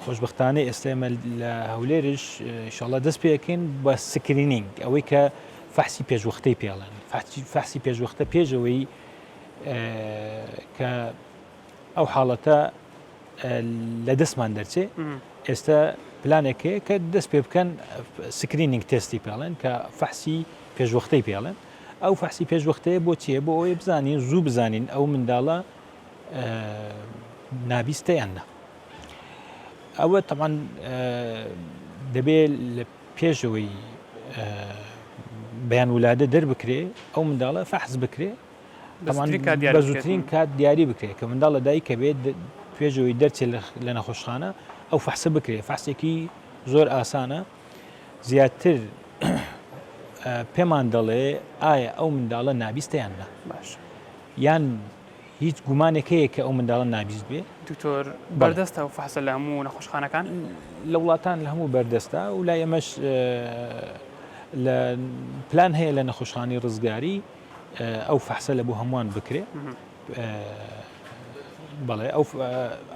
خۆشبەختانە ئێستا ئێمە لە هەولێرش ئیشاڵڵا دەست پێ ئەکەین بە سکرینینگ ئەوەی کە فەحسی پێشوەختەی پێڵێن فەحسی- فەحسی پێشوەختە پێشەوەی کە ئەو حاڵەتە لە دەستمان دەرچێ ئێستا پلانێک هەیە کە دەست پێ بکەن سکرینینگ تێستی پێڵێن کە فەحسی پێشوەختەی پێڵێن ئەو فەحسی پێشوەختەیە بۆ چیە بۆ ئەوەی بزانین زوو بزانین ئەو منداڵە نابیستە یان نا ئەوە تەمان دەبێت لە پێشەوەی بەیان ولادە دەربکرێ ئەو منداڵە فەحز بکرێ بەزوترین کات دیاری بکرێت کە منداڵ لە دایکە بێت پێشەوەی دەرچێت لە نەخۆشخانە ئەو فەحسە بکرێت فەحسێکی زۆر ئاسانە زیاتر پێمان دەڵێ ئایا ئەو منداڵە نابیستیان نە باش یان هیچ گومانێک هەیە کە ئەو منداڵە نابیست بێ؟ دکتۆر بەردەستە ئەو فەحسە لە هەموو نەخۆشخانەکان؟ لە وڵاتان لە هەموو بەردەستە و لای ئێمەش لە پلان هەیە لە نەخۆشخانەی ڕزگاری ئەو فەحسە لە بۆ هەمووان بکرێ بەڵێ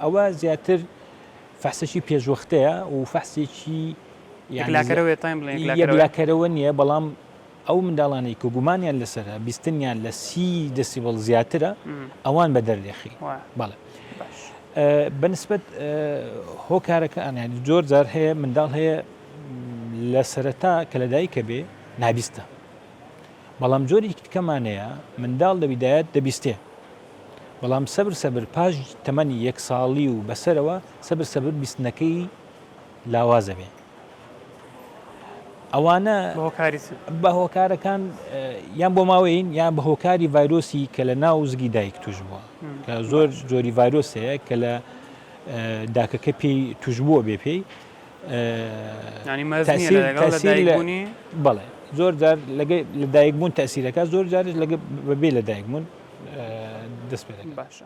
ئەوە زیاتر فەحسەکی پێشوەختەیە و فەحسێکی یەکلاکەرەوە تایم یەکلاکەرەوە نییە بەڵام ئەو منداڵانەی کە گومانیان لەسەرە بیستنیان لە سی دەسیبڵ زیاترە ئەوان بە دەرێخی بەڵێ بەنسبت هۆکارەکە ئەنیان زۆر جار هەیە منداڵ هەیە لە سەرەتا کە لەدایکە بێ نابیستە بەڵام جۆری کتکەمانەیە منداڵ لە بیدایەت دەبیستێ بەڵام سەبر سەبر پاش تەمەنی یەک ساڵی و بەسەرەوە سەبر سەبر بیستنەکەی لاوازە بێ ئەوانە بە هۆکارەکان یان بۆ ماوەین یان بە هۆکاری ڤایرۆسی کە لە ناو زگی دایک توش بووە کە زۆر جۆری ڤایرۆسەیە کە لە داکەکە پێی توش بووە بێ پێی بەڵێ زۆر جار لە دایک بوون تاسیرەکە زۆر جارش لە بەبێ لە دایک بوون دەست پێ باشە